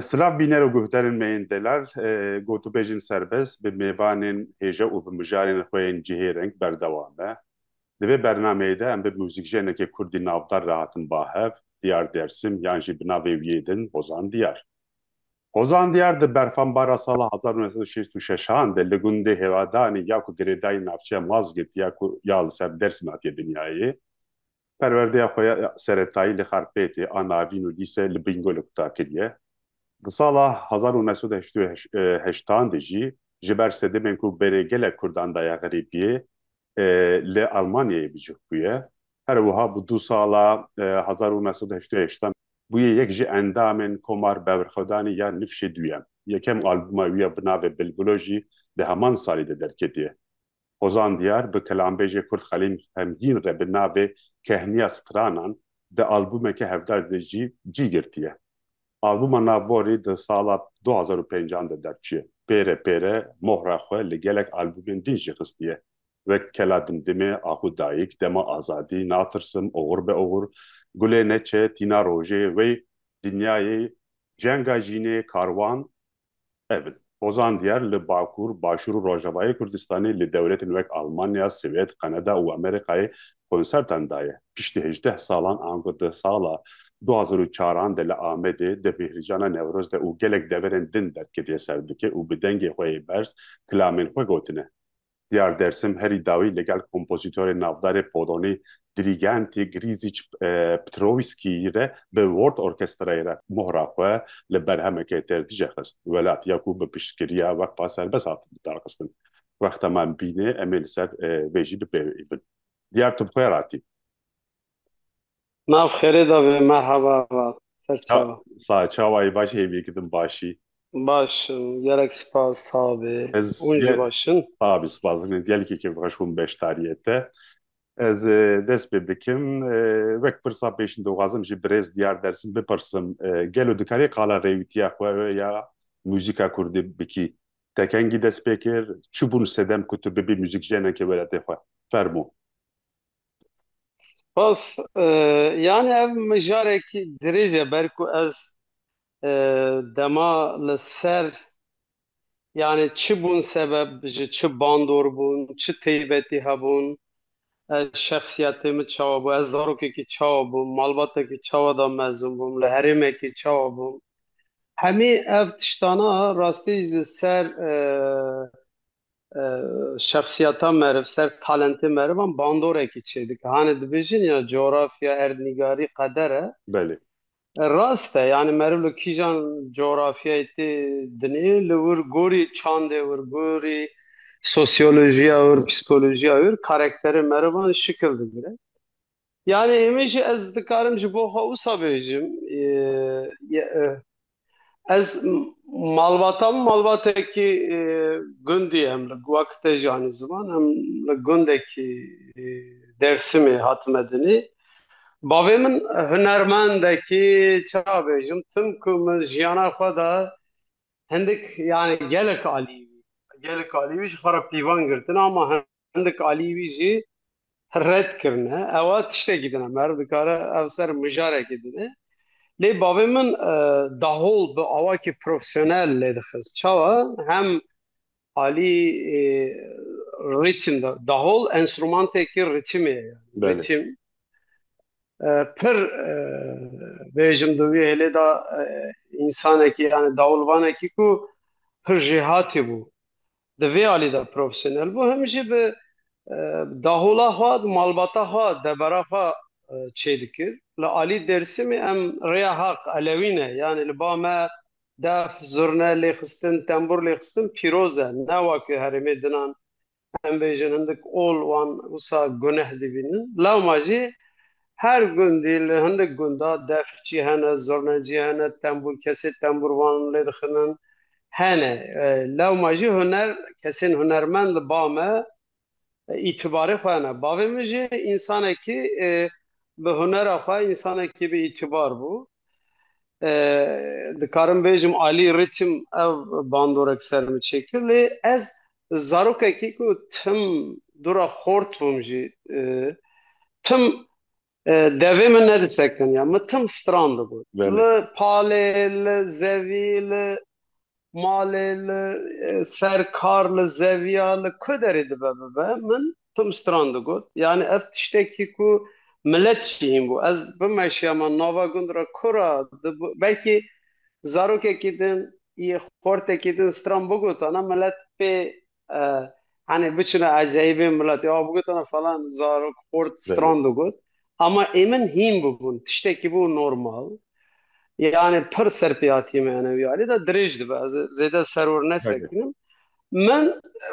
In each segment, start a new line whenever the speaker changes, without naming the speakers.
Silav bîne û guhdarên me yên delal, gotûbêjên serbest bi mêvanên hêja û bi mijarên xwe yên cihêreng berdewam be. Di vê bernameyê de em bi mûzîkjenekê kurdî navdar re hatin ba hev, Diyar Dersim yan jî bi navê wî din Hozan Diyar. Hozan Diyar di berfanbara sala hezar û neh sed û şêst û şeş an de li gundê Hêvadanê ya ku girêdayî navçeya Mazgirt ya ku ya li ser Dêrsim hatiye dinyayê, perwerdeya xwe ya seretayî li Xarpêtê a navîn û dîse li Bingolê kuta kiriye. Di sala hezar û neh sed û heşt û heştan de jî ji ber sedemên ku berê gelek Kurdan daye xerîbiyê, li Almanyayê bicih bûye. Her wiha bi du sala hezar û neh sed û heştê û heşt an bûye yek ji endamên Komar Bevrxwedanê ya Nifşê Duyem. Yekem albûma wî ya bi navê Bilbilo jî di heman salî de derketiye. Hozan Diyar bi kelanbêjê Kurd Xelîl Hemgîn re bi navê Kehniya Stranan di albûmeke hevdar de jî cî girtiye. Albûma Nav Borî di sala du hezar û pênc an de derçûye. Pêre pêre mohra xwe li gelek albûmên din jî xistiye wek Kela Dimdimê, Axû Dayîk, Dema Azadî, Natirsim, Oxur be oxur, Gulê Neçe, Tîna Rojê, Wey, Dinyayê, Cenga Jînê, Karwan, Ev pozan diyar li Bakur, Başûr û Rojavayê Kurdistanê li dewletên wek Almanya, Swêd, Kanada û Amerîkayê konsertan daye. Piştî hejdeh salan ango di sala du hezar û çar an de li Amedê di bêhrijana Newroz de û gelek deverên din derketiye ser dikê û bi dengê xwe yê berz kilamên xwe gotine. Diyar Dersim herî dawî li gel kompozîtorê navdarê polonî Dirîgentî Grîzîç Ptrowîskî re bi World Orkestrayê re mohra xwe li berhemekê têr dije xist. Welat ya ku bi piştgiriya Weqfa Serbest hat lidarxistin. Wexta me bîne em ê li ser vê jî bipêvîbin. Diyar tu bi xwe re hatî. Nav xêrê de be merhaba va ser çawa. Sa çawayî baş hêvî ki din başî. Baş im gerek spas sa bê. Ez Hûn jî ge- baş in. Sa bî spas dikim gelekî kêf xweş bûm beşdariyê te. Ez e, dest pê dikim e, wek pirsa pêşîn dixwazim ji birêz Diyar Dersim bipirsim e, gelo dikarî qala rêwîtiya xwe ya muzîka kurdî bikî? Te kengî dest pê kir? Çi bûn sedem ku tu bibî muzîkjeneke welatê xwe? Fermo. Spas. Yanî ev mijarekî dirêj e ber ku ez dema li ser yanî çi bûn sebeb ji çi bandor bûn, çi teybetî hebûn, ez şexsiyetê min çawa bû, ez zarokekî çawa bûm, malbatekî çawa de mezin bûm, li herêmekî çawa bûm. Hemî ev tiştana rastî ji li ser şexsiyeta meriv, ser talentê merivan bandorekî çêdike. Hanê dibêjin ya coğrafya, erdnîgarî, qeder e. Belê. Rast e, yanî meriv li kîjan coğrafyayê tê dinê, li wir gorî çandê wir, gorî sosyolojiya wir, psîkolojiya wir karekterê merivan şikil digire. Yanî hemî jî ez dikarim ji bo xwe wisa bêjim ez malbata min malbatekî gundî ye em li wek te jî anî ziman em li gundekî Dêrsimê hatime dinê. Bavê min hunermendekî çawa bêjim tim ku min jiyana xwe de hindik yanî gelek alî gelek alî wî ji xwe re pîvan girtin ama hindik alî wî jî red kirine. Ewa tiştekî din e, meriv dikare ev ser mijarekî din e. Lê bavê min dahol bi awakî profesyonel lê dixist. Çawa? Hem alî rîtim de, dahol enstrûmantekî rîtimê ye. Rîtim pir bêjim di wî hêlê de însanekî yanî dahol vanekî ku pir jêhatî bû. Di vê alî de profesyonel bû hem jî bi dahola xwe, malbata xwe, debara xwe çê dikir. Li alî Dêrsimê em rêya heq, elewî ne. Yanî li ba me def, zurne lêxistin, tembûr lêxistin pîroz e. Ne weke herêmê din an em bêjin hindik ol wan wisa guneh dibînin. Lewma jî Her gundî li hindik gunda defçî hene, zurnecî hene, tembûr kesê tembûrvan lê dixinin hene. Lewma jî huner kesên hunermend li ba me îtibarê xwe hene. Bavê min jî însanekî bi hunera xwe însanekî bi îtibar bû. Dikarim bêjim alî rîtm ev bandorek ser min çêkir lê ez Zarokekî ku tim dûra xort bûm jî tim devê min nedisekeniya. Min tim strandibû. Li palê, li zevî, li malê, li ser kar, li zeviya, li ku derê dibe bibe min tim stran digot. Yanî ev tiştekî ku milet jî hîn bû. Ez bimeşiya me nava gund re kura belkî zarokekî din yê xortekî din stran bigotane milet pê henê biçine eceyîbê miletê a bigotane falan zarok xort stran digot. Ama ê min hîn bûbûn. Tiştekî bû normal. Yanî pir serpêhatiyê me enewî alî de dirêj dibe. Ez zêde seror nesekînim. Min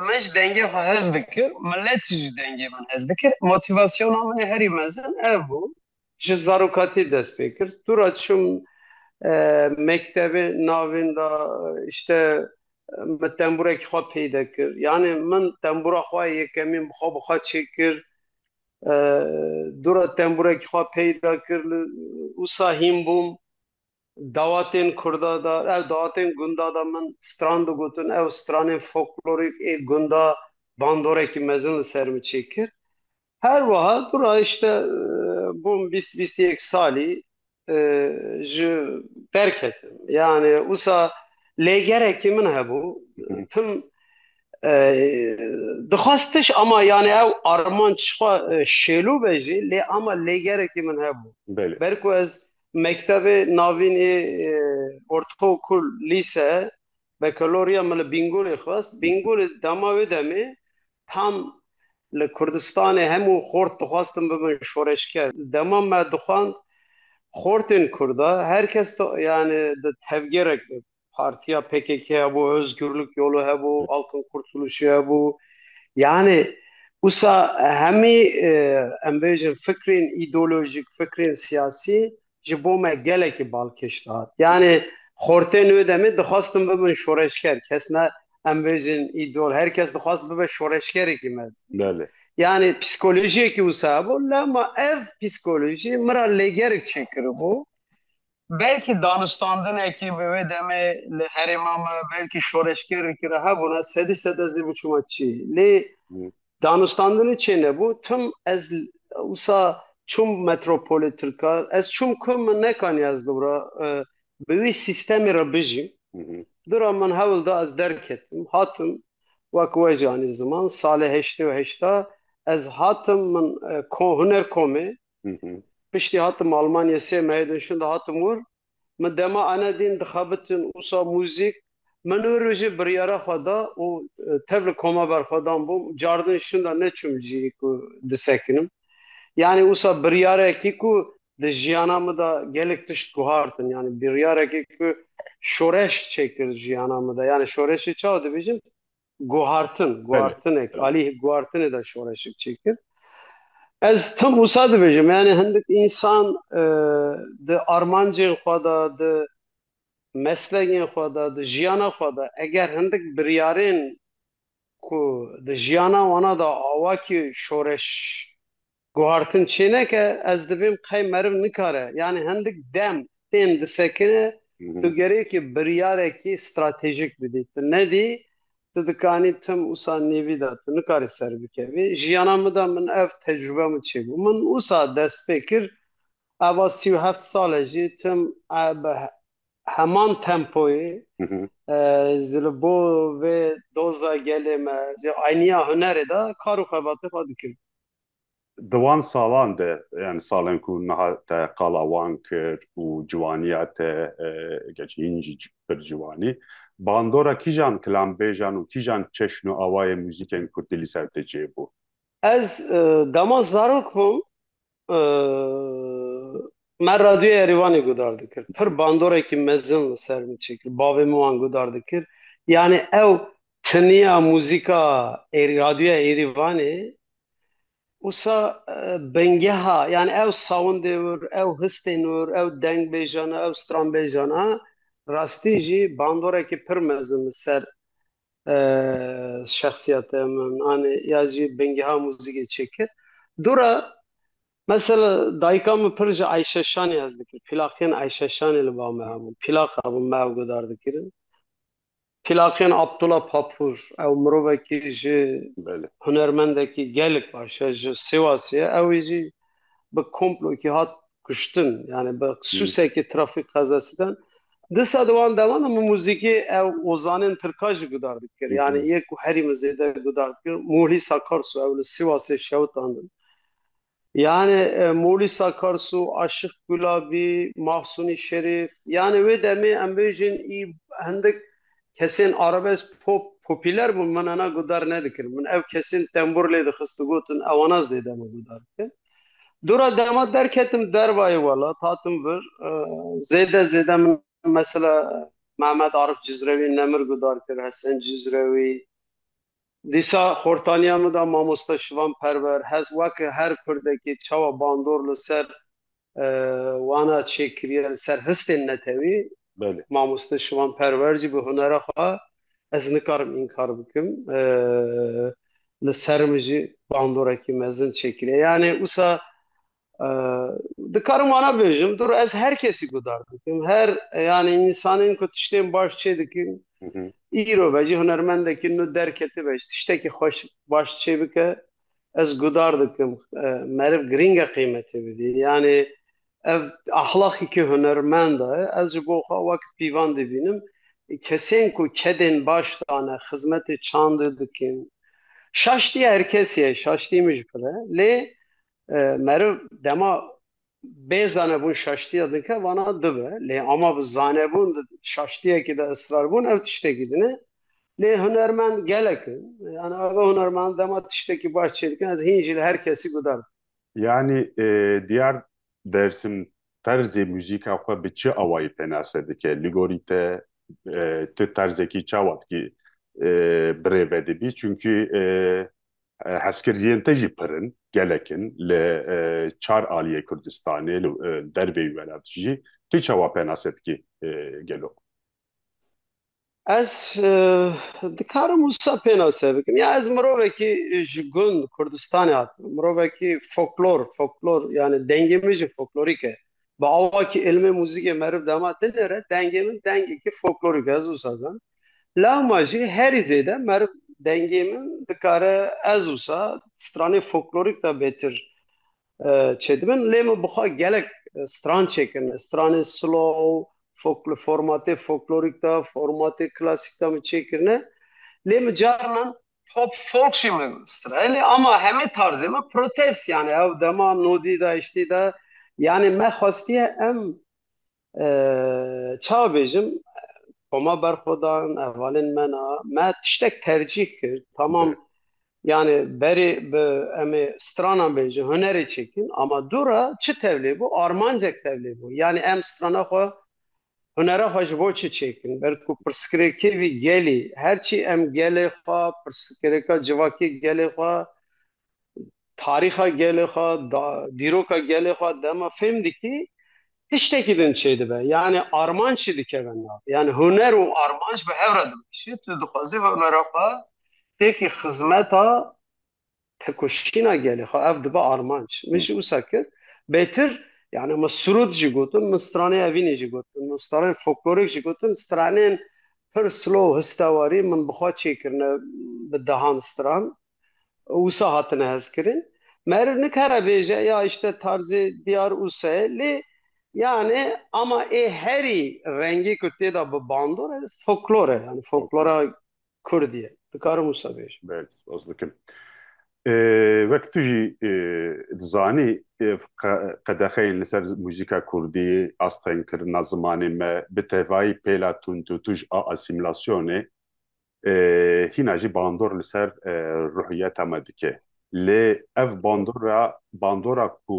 min ji dengê xwe hez dikir, milet jî ji dengê min hez dikir. Motivasyona min herî mezin ev bû. Ji zarokatî dest pê kir. Tûra çûm mektebê navîn de işte min tembûrekî xwe peyde kir. Yanê min tembûra xwe yekemîn bi xwe bi xwe çêkir. Dûra tembûrekî xwe peyda kir li wisa hîn bûm. Dawatên kurda de ew dawatên gunda de min stran digotin, ew stranên folklorîk ê gunda bandorekî mezin li ser min çêkir. Her wiha tu ra îşte bûm bîst bîst yek salî ji derketim. Yanê wisa lêgerekî min hebû tim dixwest tiş ama yanê ew armanc xwe şêlo be jî lê ama lêgerekî min hebû. Belê. Ber ku ez Mektebê navîn ê ortaokul, lîse, bekaloriya min li Bîngolê xwest. Bîngolê dema wê demê tam li Kurdistanê hemû xort dixwestin bibin şoreşger. Dema me dixwend xortên kurd e, her kes yanî di tevgerek de bû. Partiya PKK hebû, Ozgurluk Yolu hebû, Halkın Kurtuluşu hebû. Yanî wisa hemî em bêjin fikrên îdeolojik, fikrên siyasî ji bo me gelekî balkêş dihat. Yanî xortên wê demê dixwastin bibin şoreşger. Kes ne em bêjin îdeol, her kes dixwast bibe şoreşgerekî mezin. Belê. Yanî psîkolojiyekî wisa hebû. Lema ev psîkolojî min ra lêgerek çêkiribû. Belkî danûstandinekî bi wê demê li herêma me belkî şoreşgerîkî re hebûna, sedî sed ez ê biçûma çî. Lê danûstandinê çê nebû. Tim ez wisa çûm metropolê tirkan. Ez çûm ku min nekaniye ez li wir a bi wî sîstemê re bijîm. Du re min hewl da ez derketim. Hatim wek we jî anî ziman. Salê heştê û heşta ez hatim min hunerkomê. Piştî hatim Almanyayê sê mehê din şûnde hatim wir. Min dema ene dîn dixebitin wisa mûzîk. Min wir û jî biryara xwe da û tev li koma ber xwe dan bûm. Car din şûnde neçûm li jîrî ku disekinim. Yanî wisa biryarekî ku di jiyana min de gelek tişt guhartin. Yanî biryarekî ku şoreş çêkir jiyana min de. Yanî şoreşê çawa dibêjin? Guhartin, guhartinek, alî guhartinê de şoreşek çêkir. Ez tim wisa dibêjim, yanî hindik însan di armancên xwe de, di meslekên xwe de, di jiyana xwe de eger hindik biryarên ku di jiyana wana de awakî şoreş Guhartin çêneke ez dibêm qey meriv nikare yanî hindik dem tên disekine tu gerêkî biryarekî stratejîk bidî tu nedî tu dikanî tim usa nêvî de tu nikarî serbikevî jiyana min de min ev tecrube min çêbû min usa dest pê kir eva sî û heft sale jî tim bi heman tempoyê jî li bo vê doza gelê me jî aynîya hunerê de kar û xebatê xwe dikim. Di wan salan de yan salên ku niha te qala wan kir û ciwaniya te gerçî hîn jî pir ciwanî bandora kîjan kilanbêjan û kîjan çeşn û awayên muzîkên kurdî li ser te cih bû? Ez dema zarok bûm Me radyoya Yerîvanê gudar dikir. Pir bandorekî mezin li ser min çêkir. Bavê min wan gudar dikir. Yanî ew tiniya muzîka radyoya Yerîvanê wisa bingeha yanî ew sawndê wir, ew histên wir, ew dengbêjan a, ew stranbêjan a rastî jî bandorekî pir mezin li ser şexsîyeta min anî ya jî bingeha muzîkê çêkir. Dora Mesela dayika min pir ji Eyşeşanê hez dikir. Pîlaqên Eyşeşanê li ba me hebûn. Pîlaq hebûn me ew guhdar dikirin. Pîlaqên Abdula Papûr, ew mirovekî jî hunermendekî gelek baş e, ji Sêwasê ye. Ewî jî bi komplokî hat kuştin. Yanî bi sûsekê trafîk qezasî dan. Disa di wan deman de min muzîkê ew ozanên tirka jî guhdar dikir. Yanî yê ku herî min zêde guhdar dikir Mulî Sakarsu ew li Sêwasê şewitandin. Yanê Molî Sakarsu, Aşiq Gulabî, Mahsûnî Şerîf, yanê wê demê em bêjin î hindik kesên arabesk pop popîler bûn min hena gudar nedikirin. Min ev kesên tembûr lê dixist û gotin ewana zêde min gudar dikin. Dora dema derketim dervayê welat hatim vir zêde zêde min mesela Mehmet Arif Cizrewî, Nemir gudar kir, Hesen Cizrewî, Dîsa xortaniya min de mamoste Şivan Perwer hez weke her kurdekê çawa bandor li ser wana çê kiriye li ser histên netewî mamoste Şivan Perwer jî bi hunera xwe ez nikarim înkar bikim li ser min jî bandorekî mezin çê kiriye yanê wisa Dikarim wana bêjim dur ez her kesî guhdar dikim her yanî însanên ku tiştên baş çê dikin îro be jî hunermendekî nû derketibe ji tiştekî xweş baş çê bike ez guhdar dikim meriv girîng e qîmetê bidî yanê ev ahlaqekî hunermenda ye ez ji bo xwe wek pîvan dibînim kesên ku kedên baş dane xizmetê çandê dikin şaştî her kesî ye şaştî min jî pir e lê Meriv dema bê zanebûn şaştiya dike vana du be. Lê ama bi zanebûn di şaştiyekî de israrbûn ev tiştekî din e. Lê hunermend gelek in. Yanî ev hunermend dema tiştekî baş çê dikin ez hîn jî li her kesî guhdar dikim. Yanî diyar Dersim terzê muzîka xwe bi çi awayî pênase dike? Li gorî te ti terzekî çawa dikî birêve dibî? Çimkî Hezkirdiyên te jî pir in, gelek in. Li çar aliyê Kurdistanê, li dervê wî welat jî tu çawa penase dikî gelo? Ez dikarim wisa pênase bikim. Ya ez mirovekî ji gund Kurdistanê hatim. Mirovekî foklor, foklor yanî dengê min jî foklorîk e. Bi awa kî îlmê muzîkê meriv dema dinêre, dengê min dengekî foklorîk e, ez wisa zanim. Lewma jî herî zêde meriv dengê min dikare ez wisa stranên folklorîk de bêtir çêdibin. Lê min bi xwe gelek stran çêkirine. Stranên slow, li formatê folklorîk de, formatê klasîk de min çêkirine. Lê min carinan pop folk jî min stira. Lê ama hemî tarzê min protest yanî ew dema nodî de, hiştî de yanî me xwestiye em Çawa bêjim Xoma berxwedan hevalên me na me tiştek tercîh kir tamam yani berê bi emê stranan bêjin hunerê çêkin ama dûra çi tevlê bû armancek tevlê bû yani em strana xwe hunera xwe ji bo çi çêkin belku pirsgirêkê vî gelî herçî em gelê xwe pirsgirêka civakê gelê xwe tarîxa gelê xwe, dîroka gelê xwe dema fêm dikî tiştekî din çêdibe. Yanî armanc jî dikeve nav. Yanî huner û armanc bi hev re dimeşî. Tu dixwazî hunera xwe têkî xizmeta tekoşîna gelê xwe ev dibe armanc. Min jî wisa kir. Bêtir yanî min sirûd jî gotin, min straneyê evînê jî gotin, min straneyên folklorik jî gotin, straneyên pir slow, histewarî min bi xwe çêkirine bi dehan stran. Usa hatine hezkirin. Meriv nikare bêje ya îşte tarzê diyar Usa ye lê yanê ama ê herî rengî ku têda bi bandor e foklor e yanî foklora kurdî ye. Dikarim wisa bêjim. Belê spas dikim. Wek tu jî dizanî qedexeyên li ser muzîka kurdî, astengkirina zimanê me bi tevayî pêla tundûtûj a asîmîlasyonê hîna jî bandor li ser ruhiyeta me dike. Lê ev bandora bandora ku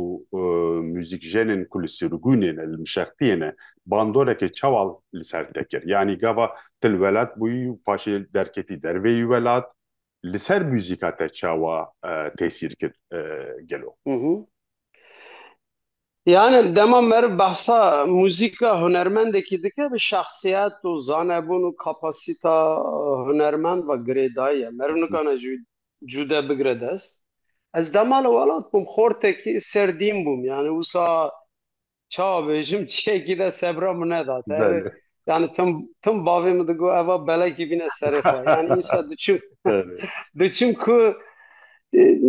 muzîkjenên ku li Sûrgûnê ne, li Mişextiyê ne, bandorekê çawa li ser te kir? Yanî gava tu li welat bûyî û paşê derketî dervê yî welat, li ser muzîka te çawa tesîr kir gelo? Yani dema meriv behsa muzîka hunermendekî dike bi şexsiyet û zanebûn û kapasîta hunermend ve girêdayî ye. Meriv nikane ji wî cude bigire dest. Ez dema li welat bûm xortekî serdîn bûm. Yani wisa çawa bêjim çiyekî de sebra min neda. Te Yani tim tim bavê min digot eva belekî bîne serê xwe. Yani însa diçim diçim ku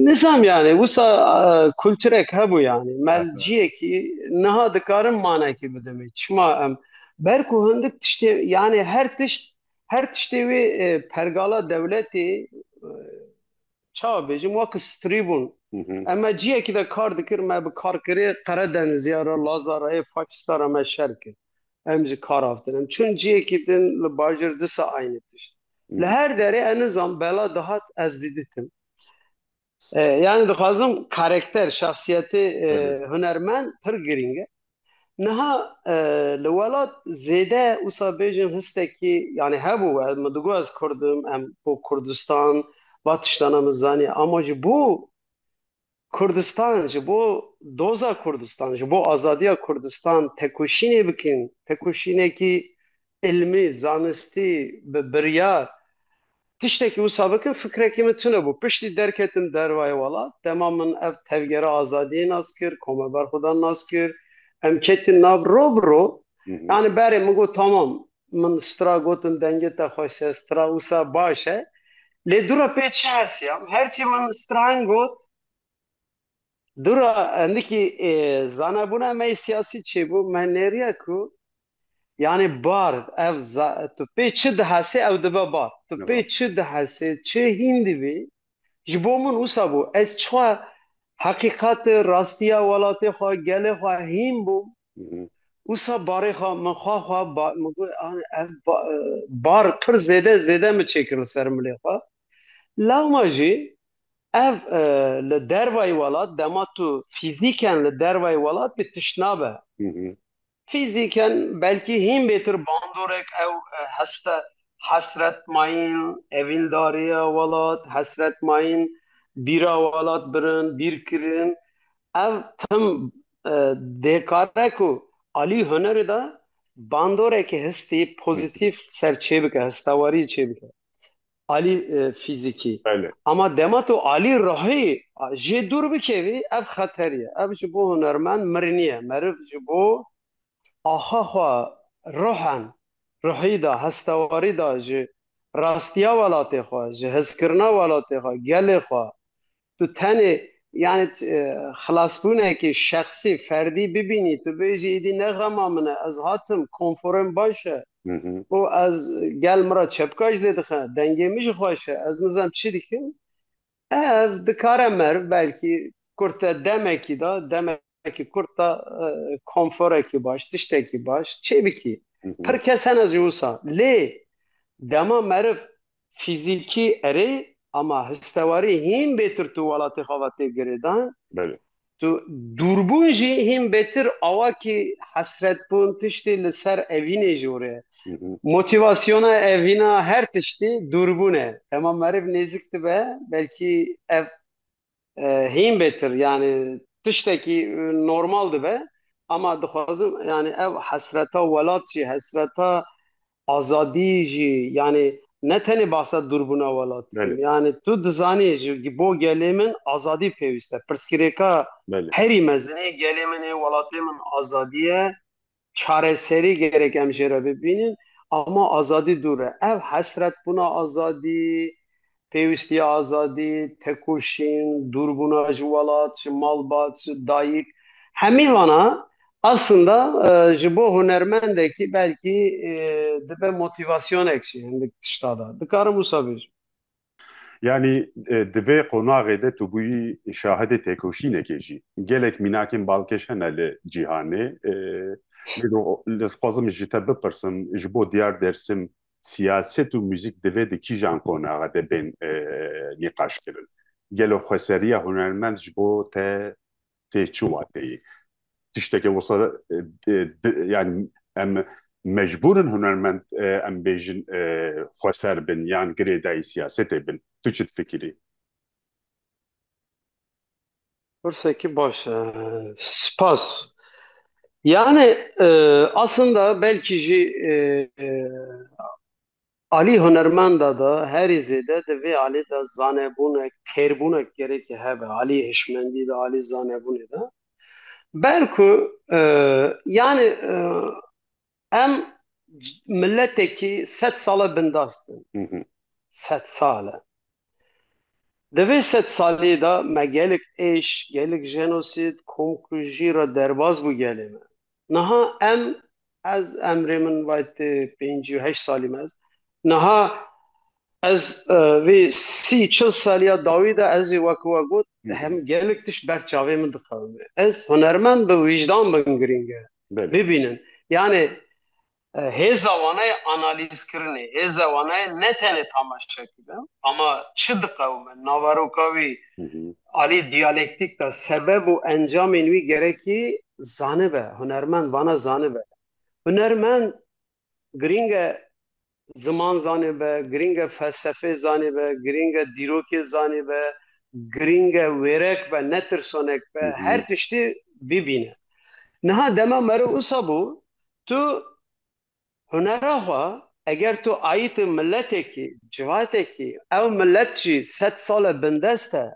nizam yani wisa kulturek hebû yani melciyekî niha dikarim manekî bidimê. Çima em ber ku hindik tiştê yani her tişt her tiştê wê pergala dewletê Çawa bêjim wek strî bûn. Em me ciyekî de kar dikir, me bi karkerê Qeredenizîya re, Laza re yê faşîsta re me şer kir. Em ji kar avtin. Em çûn ciyekî din li bajêr disa aynê tişt. Li her derê ez nizam bela dihat ez diditim. Yanî dixwazim karekter, şexsiyetê hunermend pir girîng e. Niha li welat zêde wisa bêjin histekî yanî hebû we min digot ez kurd im em bo kurdistan va tiştana min zaniye ama ji bo kurdistan ji bo doza kurdistan ji bo azadiya kurdistan tekoşînê bikin tekoşînekî Îlmî, zanistî, bi biryar tiştekî wisa bikin fikrekî min tune bû. Piştî derketim dervayê welat, dema min ev tevgera azadiyê nas kir, komeber xudan nas kir, em ketin nav ro bi ro. Yanî berê min got tamam, min stra gotin dengê te xweş e, stra wisa baş e. Lê dûra pê çi hesiyam, her çî min stra hin got, Dûra hindikî zanebûna me yê siyasî çêbû, me nêriya ku yanî bar ev tu pê çi dihesê ew dibe bar. Tu pê çi dihesê, çê hîn dibî, ji bo min wisa bû. Ez çixa heqîqetê, rastiya welatê xwe, gelê xwe hîn bûm, wisa barê xwe, min xwe xwe, min got ev bar pir zêde zêde min çêkir li ser milê xwe. Lewma jî ev li dervayî welat dema tu fîzîken li dervayî welat bî tişt nabe. Fîzîken belkî hîn bêtir bandorek ew heste hesret mayîn evîndariya welat, hesret mayîn bîra welat birin, bîrkirin. Ev tim dê kare ku alî hunerê de bandorekî hestî pozîtîf ser çêbike, hestewariyê çêbike. alî fîzîkî. Ama dema tu alî ruhî jê dûr bikevî ev xeterî ye. Ev ji bo hunermend mirinî ye. Meriv ji bo axa xwe ruhen, ruhî de, hestewarî de ji rastiya welatê xwe, ji hizkirina welatê xwe, gelê xwe, Tu tenê yanî xilasbûnekê şexsî, ferdî bibînî, tu bêjî êdî ne xema min e, ez hatim, konfora min baş e û ez gel min re çepka ji dê dixe, dengê min jî xweş e, ez nizam çi dikim. Ev dikare meriv belkî kurte demekî de, demek. Wekî kurt da konforekî baş, tiştekî baş çêbikî. Pir kes hene zî wisa. Lê dema meriv fîzîkî erê ama histewarî hîn bêtir tu welatê xwe ve tê girêdan. Belê. Tu dûrbûn jî hîn bêtir awa kî hesretbûn tiştî li ser evînê jî were. Motîvasyona evîna her tiştî dûrbûn e. Dema meriv nêzik dibe belkî ev Hîn bêtir yanî tiştekî normal dibe ama dixwazim yanî ev hesreta welat jî hesreta azadî jî yanî ne tenê bahsa dûrbûna welat dikim. Yanî tu dizanî ji bo gelê min azadî pêwîste. Pirsgirêka herî mezinê gelê min ê welatê min azadî ye. Çareserî gerek em jê re bibînin ama azadî dûr e. Ev hesretbûna azadî, pêwîstiya azadî, tekoşîn, dûrbûna ji welat, ji malbat, ji dayik hemî vana aslında ji bo hunermendekî belkî dibe motîvasyonek jî hindik tişta de. Dikarim wisa bêjim. Yanî di vê qonaxê de tu bûyî şahidê têkoşînekê jî. Gelek mînakên balkêş hene li cîhanê. Ez dixwazim ji te bipirsim ji bo Diyar Dêrsim siyaset û muzîk divê di kîjan qonaxe de bên nîqaşkirin? Gelo xweseriya hunermend ji bo te tê çi wateyê. Tişteke wisa yani em mecbûr in hunermend em bêjin xweser bin yan girêdayî siyasetê bin. Tu çi difikirî? Pirsekî baş e. Spas. Yani aslında belkî jî Alî hunermenda de herî zêde di vê alî de zanebûne kêrbûnek gerekî hebe alî hişmendî de alî zanebûnê de ber ku yanî em miletekî sed sale bindas din sed sale di vê sed salî de me gelek êş gelek jenosîd komkujî re derbas bû gelê me Niha em ez emrê min vaytê pêncî û heşt salî me ez niha ez vê sî çil saliya dawî de ez ê wek we got hem gelek tişt ber çavê min dixewime. Ez hunermend bi wîjdan bin girîng e bibînin. Yanê Hêza wana ye analîzkirinê, hêza wana ye ne tenê tamaşekirin ama çi diqewime, naveroka wî alî diyalektîk de sebeb û encamên wî gerekî zanibe, hunermend wana zanibe. Hunermend girîng e ziman zanibe, girîng e felsefeyê zanibe, girîng e dîrokê zanibe, girîng e wêrek be, ne tirsonek be, her tiştî bibîne. Niha dema meriv wisa bû, Tu hunera xwe eger tu ayîtê miletekî, civakekî, ew milet jî sed sal e bindest e,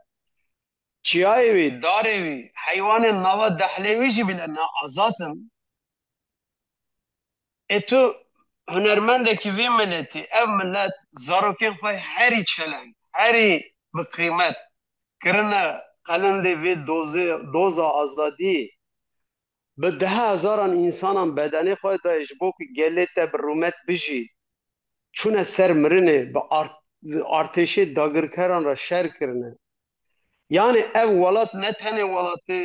çiyayê wî, darê wî, heywanên nava dehlê wî jî bîne ne azad in, ê tu hunermendekî vî miletî, ev milet zarokên xwe herî çeleng, herî bi qîmet kirine qelindê vê dozê, doza azadiyê, Bi deha hezaran însanan bedenê xwe dayê ji bo ku gelê te bi rûmet bijî, çûne ser mirinê, bi artêşê dagirkeran re şer kirine. Yanî ev welat ne tenê welatê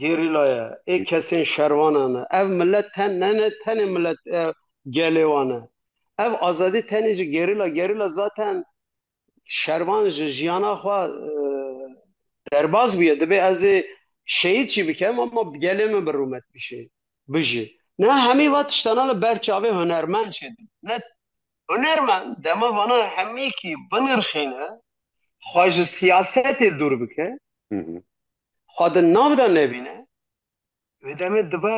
gerîla ye, ê kesên şervanan e. Ev milet ten ne ne tenê milet gelê wan e. Ev azadî tenê ji gerîla, gerîla zaten şervan ji jiyana xwe derbas bûye dibê ez ê şehîd jî bikim ama bi gelê min bi rûmet bişê bijî. Niha hemî van tiştana li ber çavê hunermend jî dibin. Ne hunermend dema vana hemîkî binirxîne, xwe ji siyasetê dûr bike, xwe di nav de nebîne, Vê demê dibe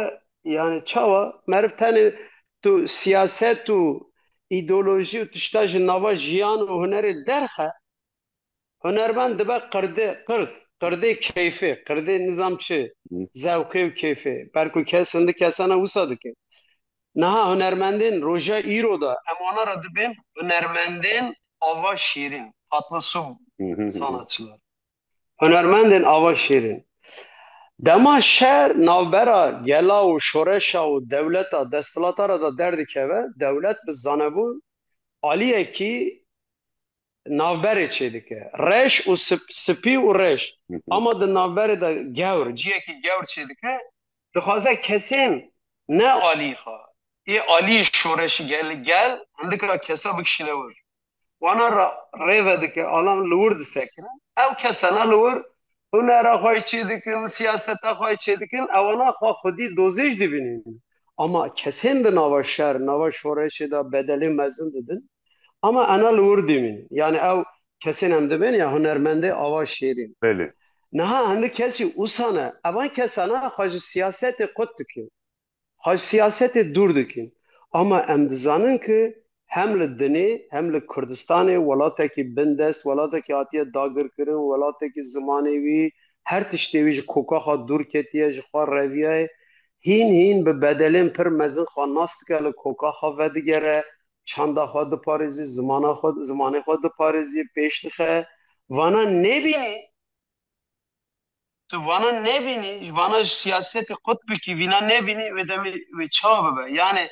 yanî çawa meriv tenê tu siyaset û îdeolojî û tişta ji nava jiyan û hunerê derxe, hunermend dibe qirdê qird, qirdê keyfê, qirdê nizam çi, zewqê û keyfê. Ber ku kes hindi kesana wisa dike. Niha hunermendên roja îro de em wana re dibên hunermendên ava şîrîn, Fatma Sû sanatçilar. Hunermendên ava şîrîn. Dema şer navbera gela û şoreşa û dewleta desthilatara de derdikeve, dewlet bi zanebûn aliyekî navberê çêdike. Reş û spî û reş. Ama di navberê de gewr, ciyekî gewr çêdike, dixwaze kesên ne aliyî xwe, ê aliyî şoreşî gel, hindika kesa bikişîne wir. wana ra rê vedike alan li wir disekirin ew kesena li wir hunera xwe yê çêdikin siyaseta xwe yê çêdikin ewana xwe xwedî dozê jî dibînin ama kesên di nava şer di nava şoreşê de bedelê mezin didin ama ena li wir dimînin yanî ew kesên em dibin ya hunermendê ava şêrîn Belê. niha hindik kesî ûsane evan kesena xwe ji siyasetê qut dikin. Haj siyasetê dûr dikin. Ama em dizanin ki hem li dinê hem li Kurdistanê welatekî bindest, welatekî hatiye dagirkirin, welatekî zimanê wî, her tiştê wî ji kokaxa dûr ketiye, ji xwe reviyaye, hîn hîn bi bedelên pir mezin xwe nas dike, li kokaxa vedigere, çanda xwe diparêzî, zimana xwe, zimanê xwe diparêzî, pêş dixe. Vana nebînî Tu vana nebînî, ji vana ji siyasetê qutbikî vîna nebînî wê demê wê çawa bibe? Yanê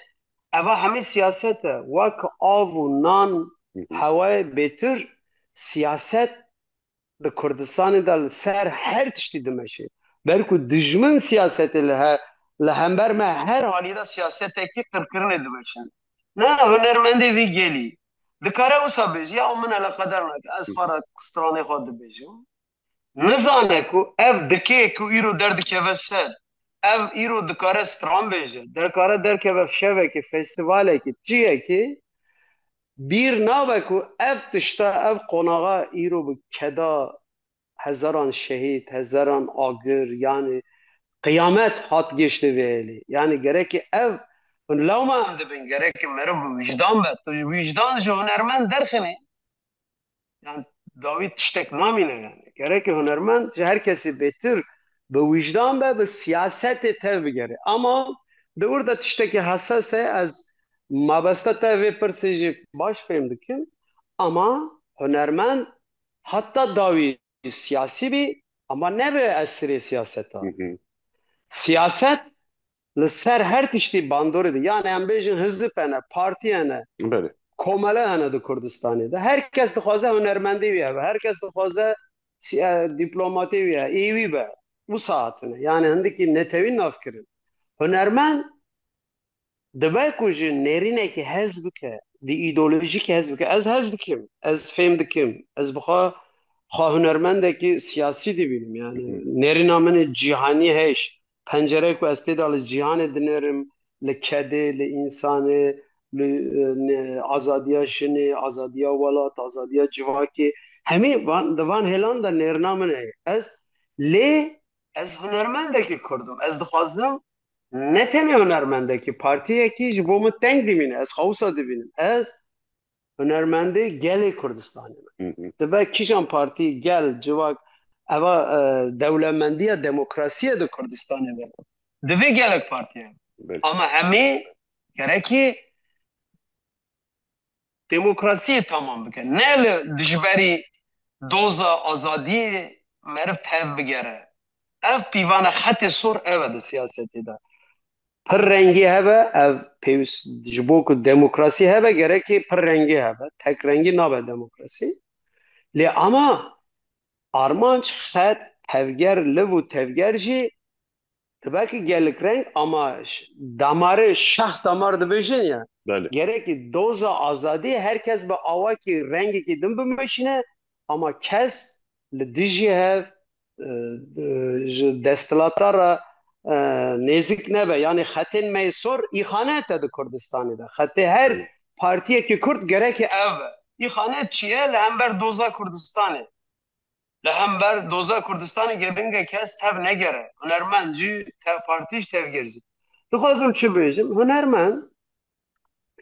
eva hemî siyaset e. Wake av û nan hewayê bêtir siyaset di Kurdistanê de li ser her tiştî dimeşê. Ber ku dijmin siyasetê li he li hember me her halî de siyasetekî qirkirinê dimeşin. Na hunermendê vî gelî dikare wisa bêje ya min eleqeder nake ez xwe re stranê xwe dibêjim. Nizane ku ev dikê ku îro derdikeve ser, ev îro dikare stran bê jî, dikare derkeve fşevekê, festîvalekê, çiyekê, bîr nabe ku ev tişta, ev qonaxa îro bi keda hezaran şehîd, hezaran agir yanî qiyamet hat gêştê vê elî. Yanî gerekê ev hûn lawma em dibin, gerekê meriv bi wijdan be. Tu ji wijdan ji hunermend derxinî. yan dawî tiştek namîne yani. Gerekê hunermend ji her kesê bêtir bi wijdan be bi siyasetê tev bigere. Ama di wir de tiştekî heses e ez mabeste te vê pirsê jî baş fêm dikim ama hunermend heta dawî siyasî bî ama nebe esirê siyaseta. Siyaset Li ser her tiştî bandorê de yan em bêjin hizib hene, partî hene, komele hene di Kurdistanê de. Her kes dixwaze hunermendê wî hebe, her kes dixwaze dîplomatê wî hebe, ê wî be. Wisa hatine. Yanê hindikî netewî nav kirin. Hunermend dibe ku ji nêrînekî hez bike, di îdeolojîkî hez bike. Ez hez dikim, ez fêm dikim, ez bi xwe xwe hunermendekî siyasî dibînim. Yanê nêrîna min ê cîhanî heyş. Pencereyê ku ez tê de li cîhanê dinêrim, li kedê, li însanê, li azadiya jinê, azadiya welat, azadiya civakê, hemî van di van hêlan de nêrina min heye. Ez lê ez hunermendekî Kurd im. Ez dixwazim ne tenê hunermendekî, partiyekî ji bo min teng dimîne. Ez xwe wisa dibînim. Ez hunermendê gelê Kurdistanê me. Dibe kîjan partî, gel, civak eva dewlemendiya demokrasiyê di Kurdistanê de divê gelek partî hebe. Ama hemî gerekî demokrasiyê tamam bike. Ne li dijberî doza azadiyê meriv tev bigere. Ev pîvane xetê sor ev e di siyasetê de. Pir rengî hebe ev pêwîst ji bo ku demokrasî hebe gerekê pir rengî hebe. Tek rengî nabe demokrasî. Lê ama armanc xet tevger liv û tevger jî dibe ki gelek reng ama damarê şax damar dibêjin ya gerekî doza azadî her kes bi awakî rengekî din bimeşine ama kes Li dijî hev ji desthilata re nêzik nebe yanî xetên meysor îxane te di Kurdistanê de. Xetê her partiyekî kurd gerekî ev be. Îxane çi ye? Li hember doza Kurdistanê. Li hember doza Kurdistanê gedinge kes tev negere. Hunermend jî, tev partî jî, tevgêr jî. Dixwazim çi bêjim? Hunermend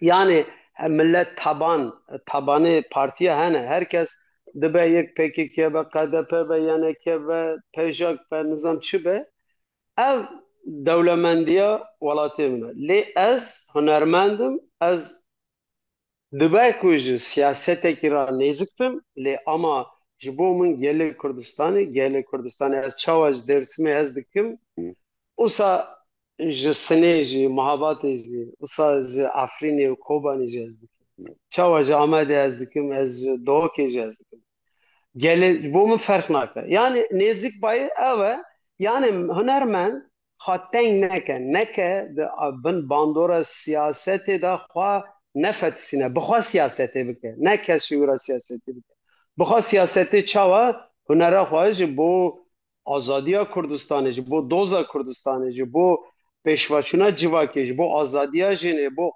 Yanê he millet taban tabanê partiya hene her kes dibe yek pkk be qdp be ynk be pejk be nizam çi be ev dewlemendiya welatê min e lê ez hunermend im ez dibe ku ji siyasetekî ra nêzik bim lê ama ji bo min gelê Kurdistanê gelê Kurdistanê ez çawa ji Dêrsimê hez dikim usa Ji Sinê jî, Mihabatê jî, wisa ji Efrînê û Kobanê jî ez dikim. Çawa ji Amedê ez dikim, ez ji Dohokê jî ez dikim. Gelê ji bo min ferq nake. Yanî nêzik bayê ew e, yanî hunermend xwe teng neke, neke di bin bandora siyasetê de xwe nefetisîne, bi xwe siyasetê bike, ne kes ji wî re siyasetê bike. Bi xwe siyasetê çawa hunera xwe ji bo azadiya Kurdistanê, ji bo doza Kurdistanê, ji bo pêşveçûna civakê, ji bo azadiya jinê, bo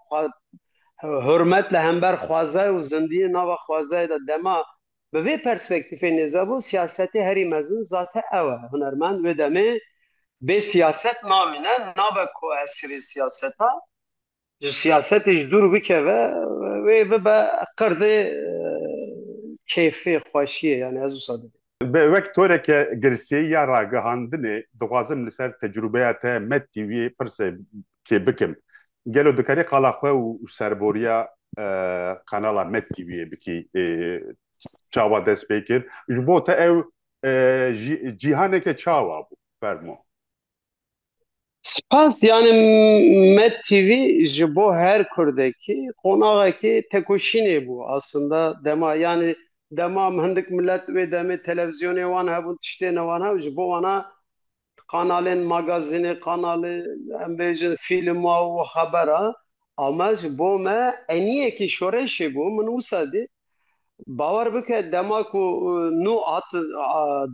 hurmet li hember xwezayê û zindiyê nava xwezayê de dema bi vê perspektîfê nêze bû, siyasetê herî mezin zate ew e. Hunermend wê demê bê siyaset namîne, nabe koesirê siyaseta. ji siyasetê ji dûr bikeve wê bibe qerdê kêfê, xweşiyê yanî ez wisa dibînim. Bi wek toreke girseyî ya ragihandinê dixwazim li ser tecrûbeya te metî wî pirsekê bikim. Gelo dikerî qala xwe û serboriya kanala metî wî yê bikî çawa dest pê kir? Ji bo te ew cîhaneke çawa bû? Fermo. Spas yani Med TV ji bo her Kurdekî qonaxekî tekoşînê bû aslında dema yani dema hindik millet wê demê televizyonê wan hebûn tiştê ne wan hebû ji bo wana kanalên magazînê kanalê em bêjin fîlma û xebera ama ji bo me eniyekî şorêşê bû min wisa dît Bawer bike dema ku nû hat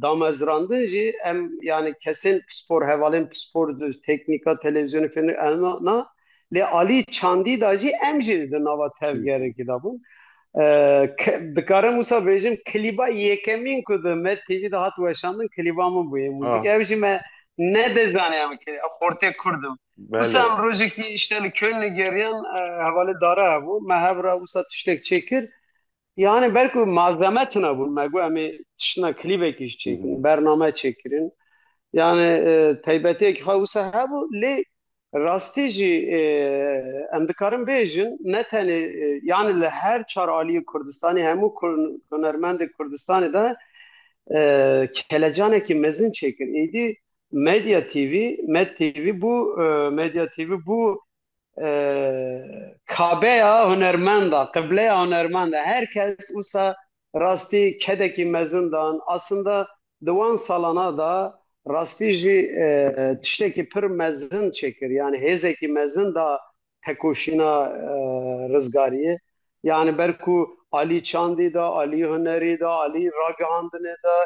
damezrandin jî em yanî kesên pispor, hevalên pispor, teknîka televîzyonê fênê em na lê alî çandî de jî em jî di nava tevgerekî de bûn. Dikarim wisa bêjim klîba yekemîn ku di me TV de hat weşandin klîba min bûye muzîk. Ew jî me nedizaniya min kê xortê kurd im. Wisa em rojekî îşte li Kölnê geriyan hevalê dare hebû me hev re wisa tiştek çêkir yanê belku malzeme tune bûn me got em ê tiştina klîbekî ji çêkirin bername çêkirin yanê taybetiyekî xwe wisa hebû lê rastî jî em dikarin bêjin ne tenê yanê li her çar aliyê Kurdistanê hemû hunermendê Kurdistanê de kelecanekî mezin çêkir êdî Medya TV, Med TV bû Medya TV bû kabeya hunermenda, qibleya hunermenda. Her kes wisa rastî kedekî mezin dan. Aslında di wan salana da rastî jî tiştekî pir mezin çêkir. Yanî hêzekî mezin da tekoşîna rizgariyê yanî ber ku alî çandî de, alî hunerî de, alî ragihandinê de,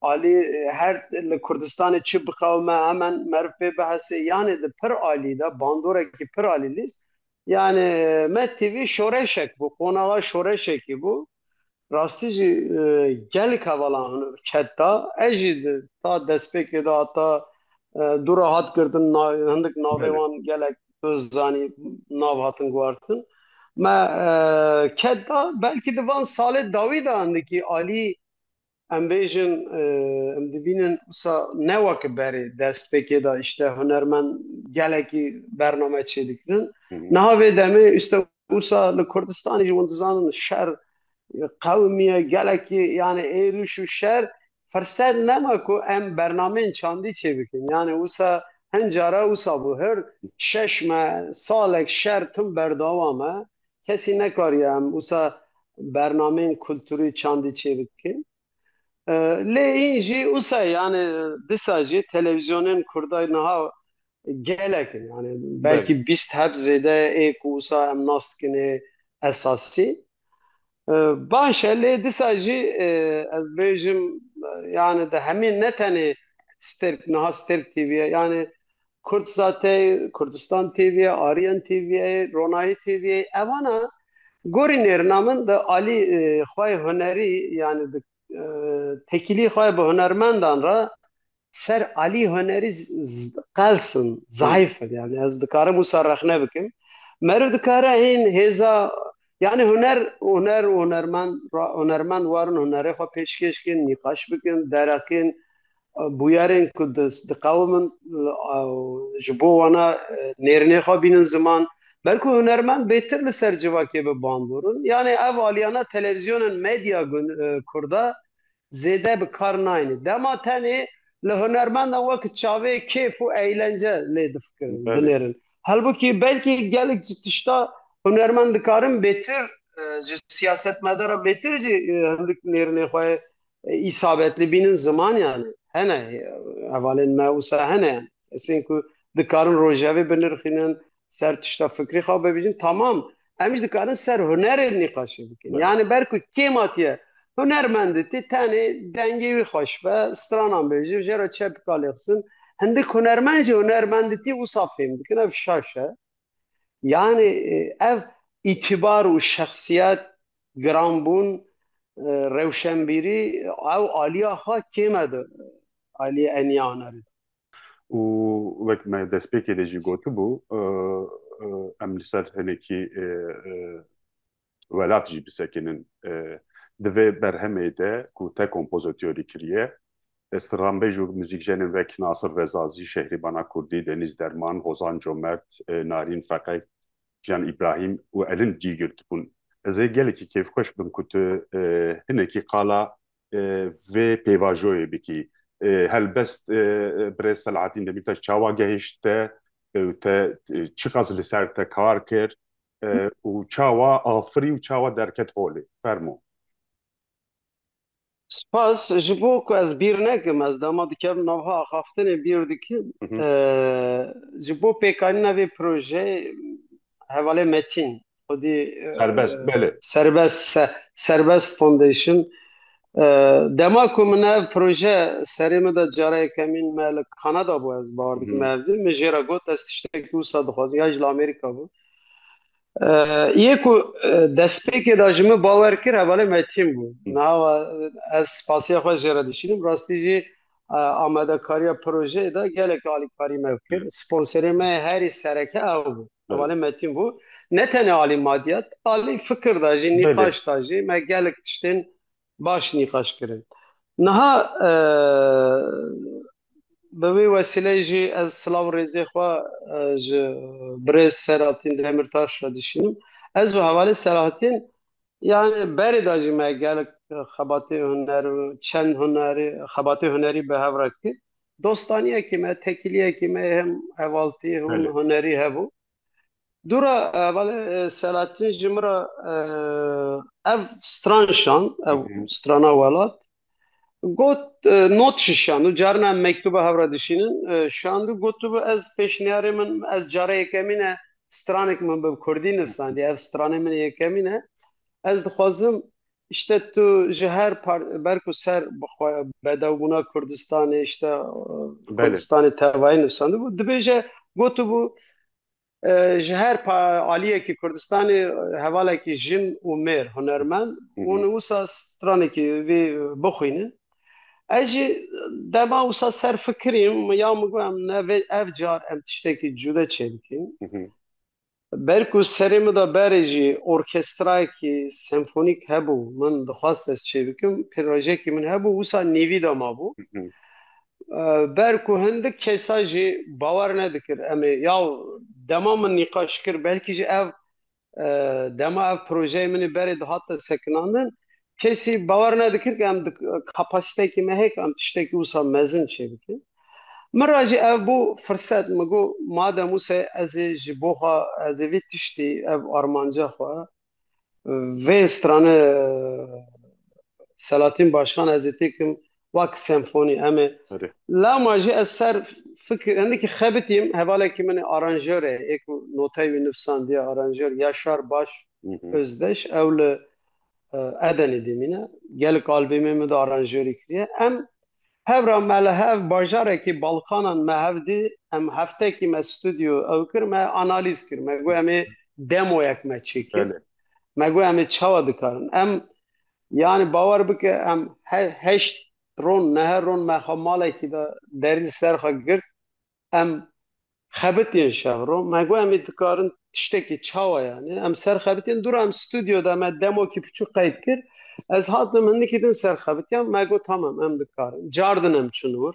alî her li Kurdistanê çi biqewime hemen meriv pê bihesê yanê di pir alî de bandorekî pir alî lîst yanê me tv şoreşek bû, qonaxa şoreşekî bû. Rastî jî gelek hevalan hûn ket da. Ez jî ta destpêkê de heta du re hat girtin hindik navê wan gelek tu zanî nav hatin guhartin. Me ket da belkî di van salê dawî de hindikî alî em bêjin em dibînin wisa ne weke berê destpêkê de îşte hunermend gelekî bername çêdikirin. Niha vê demê îşte Wisa li Kurdistanê jî hûn dizanin şer qewimî ye, gelekî yanê êrîş û şer firsed nema ku em bernameyên çandî çêbikin. Yanê wisa hin cara wisa bû hir şeş me salek şer tim berdewam e. Kesî nekariye em wisa bernameyên kulturî çandî çêbikin. Lê hîn jî usa yanê disa jî televîzyonên kurday niha gelek in yanê belkî bîst heb zêde ê ku usa em nas dikin ê esasî baş e lê disa jî ez bêjim yanê di hemî ne tenê stêrk niha stêrk TV ye yanê Kurdsate, Kurdistan TV, Aryan TV, Ronayî TV evan e. Gorî nêrina min di alî e, xwe yê hunerî yanî di e, tekîlî xwe yê bi hunermendan re ser alî hunerî z- z- qels in, zayîf in. Yanî ez dikarim wisa rexne bikim. Meriv dikare hîn hêza yanî huner huner û hunermend ra- hunermend warin hunerê xwe pêşkêş kin, nîqaş bikin, derexin, bûyerên ku diqewimin ji bo wana nêrînê xwe bînin ziman ber ku hunermend bêtir li ser civakê bi bandor in yanê ev aliyane televîzyonên medya kurda zêde bi kar nayêne dema tenê li hunermendan weke çavê kêf û eylence lê difikirin binêrin helbukî belkî gelek ji tişta hunermend dikarin bêtir ji siyasetmedaran bêtir jî hindik nêrînê xwe îsabetli bînin zimanyan e. Hene hevalên me wisa hene yan. Kesên ku dikarin rojevê binirxînin, ser tişta fikrî xwe bibîjin tamam. Em jî dikarin ser hunerê nîqaşê bikin. Yanî ber ku kê matiye hunermenditî tenê dengê wî xweş be, stranan bêje, jê re çepika lêxistin. Hindik hunermend jî hunermenditî wisa fêm dikin. Ev şaş e. Yanî ev îtîbar û şexsiyet giranbûn rewşenbîrî ew aliya xwe kême di aliyê eniya hunerê de. Û wek me destpêkê de jî gotibû em li ser hinekî welat jî bisekinin. Di vê berhemê de ku te kompozotyorî kiriye, stranbêj û muzîkjenên wek Nasir Rezazî, Şehrîbana Kurdî, Denîz Derman, Hozan Comert, Narîn Feqe, Jiyan Îbrahîm û Elind cî girtibûn. Ez ê gelekî kêfxweş bim ku tu hinekî qala vê pêvajoyê bikî. Helbest birêz Selahattîn Demîrtaş çawa gehişt te û te çiqas li ser te kar kir? û çawa afirî û çawa derket holê. Fermo. Spas ji bo ku ez bîr nekim, ez dema dikevim navha axaftinê bîr dikim. Ji bo pêkanîna vê projeyê hevalê Metîn xwedî Serbest belê. Serbest Serbest Foundation dema ku min ev proje serê min de cara yekemîn me li Kanada bû ez bawer dikim ev di min jê re got ez tiştekî wisa dixwazim ya ji li Amerîka bû Yê ku destpêkê de ji min bawer kir hevalê me tîm bû. Nawa ez spasiya xwe jê re dişînim. Rastî jî amadekariya projeyê de gelek alîkarî me kir. Sponserê me herî sereke ew bû. Hevalê me tîm bû. Ne tenê alî madiyat, alî fikir de jî, nîqaş de jî me gelek tiştên Baş nîqaş kirin. Niha bi vê wesîleyê jî ez silav û rêzê xwe ji birêz Selahattin Demirtaş re dişînim. Ez û hevalê Selahattin yanê berê de jî me gelek xebatê huner û çend hunerî xebatê hunerî bi hev re kir. Dostaniyekî me, tekiliyekî me hem hevaltî hûn hunerî hebû. Dûra balê Selahattin ji min re ev stran şand, ev strana welat got not jî şand û carina em mektûba hev re dişînin şand û gotibû ez pêşniyarê min ez cara yekemîn e stranek min bi kurdî nivîsandiye ev stranê min yekemîn e ez dixwazim îşte tu ji her ber ku ser bedewbûna Kurdistanê îşte Kurdistanê tevayî nivîsandibû dibêje gotibû Ji her aliyekî Kurdistanê hevalekî jin û mêr hunermend hûn wisa stranekî vî bixwînin. Ez jî dema wisa ser fikirîm ya min got em ne ev car em tiştekî cude çêbikîn. Ber ku serê min de berê jî orkestrayekî senfonîk hebû min dixwast ez çêbikim, pirojekî min hebû wisa nîvî de mabû. Ber ku hindik kesa jî bawer nedikir em ê ya dema min nîqaş kir belkî jî ev dema ev projeyê min ê berê dihate sekinandin kesî bawer nedikir ku em kapasîtekî me heye ku em tiştekî wisa mezin çêbikin. Min re jî ev bû firset min got madem wisa ye ez ê ji bo xwe ez ê vê tiştî ev armanca xwe Vê strane Selahattin Başkan ez ê têkim wak senfonî em ê Erê. lewma jî ez ser fikir hindikî xebitîm hevalekî min ê aranjorê ê ku noteyê wî nivîsandiye aranjor Yaşar Baş Hı hı. Özdeş ew li eh, Edenê dimîne gelek albîmê min de aranjorî kiriye em Hev ra me li hev bajarekî Balkanan me hev dî, em heftekî me studyo ew kir, me analîz kir, me got em ê demoyek me çêkir, me got em ê çawa dikarin. Em yanî bawer bike em heşt ron, nehe ron me xwe malekî de derî li ser xwe girt, em xebitîn şevro me got em ê dikarin tiştekî çawa yanê em serxebitîn dûra em stûdyo de me demokî piçûk qeyd kir ez hatim hindikî din serxebitiyan me got tamam em dikarin car din em çûn wir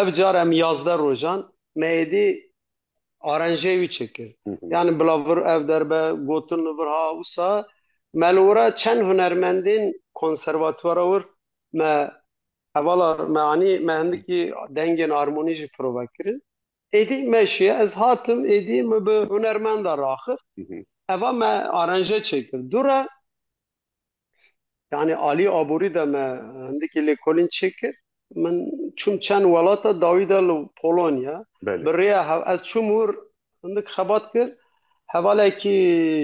Ev car em yazdeh rojan me êdî arenjê wî çêkir. Yanî bila vir ev derbe gotin li vir ha wisa me li wira çend hunermendên konservatwara wir me Hevala me anî me hindikî dengên armonî jî prova kirin. Êdî me şiye ez hatim êdî min bi hunermenda raxist eva me aranje çêkir dûre yanî alî aborî de me hindikî lêkolîn çêkir min çûm çend welata dawî de li Polonya bi rêya ez çûm wir Hindik xebat kir, hevalekî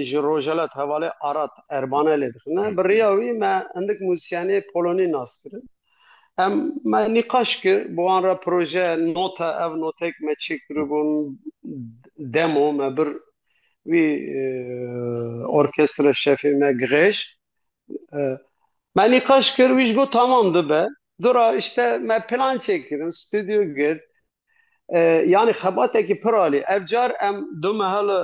ji Rojhelat hevalê Arat Erbane lê dixine. Bi riya wî me hindik muzîsyenê polonî nas kirin. Em me nîqaş kir, bi wan re proje note ev noteyek me çêkiribûn demo me bir wî orkestre şefê me Gihêj me nîqaş kir wî ji got tamam dibe. Dora îşte me plan çêkirin, stûdyo girt, Yanî xebatekî pir alî. Ev car em du mehe li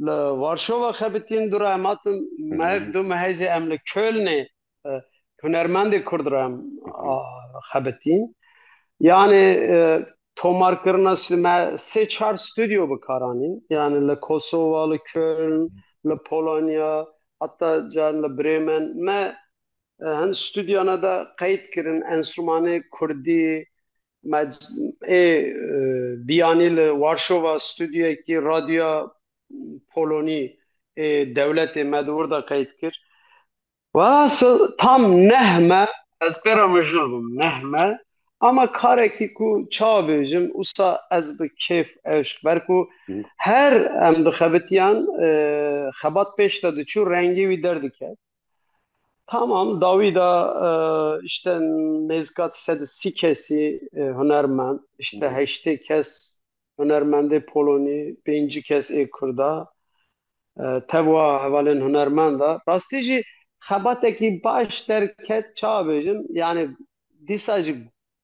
li Warşova xebitîn du re em hatin mehek du mehê jî em li Kölnê hunermendê Kurd re em xebitîn. Yanî tomarkirina me sê çar stûdyo bi kar anîn. Yanî li Kosova, li Köln, li Polonya heta caran li Brêmen me Hin stûdyana de qeyd kirin enstrûmanê kurdî ê biyanî li Warşova stûdyoyekî radyoya Polonî ê dewletê me di wir de qeyd kir. Wasa tam neh me, ez pêra mijûl bûm neh me ama karekî ku çawa bêjim wisa ez bi kêf eşk ber ku her em dixebitiyan xebat pêş de diçû rengê wî derdiket. Tamam dawî de işte nêzika sed û sî kesî hunermend, işte heştê kes hunermendê polonî, pêncî kes ê kurd e. Tev wa hevalên hunermend e. Rastî jî xebatekî baş derket çawa bêjim yanî dîsa jî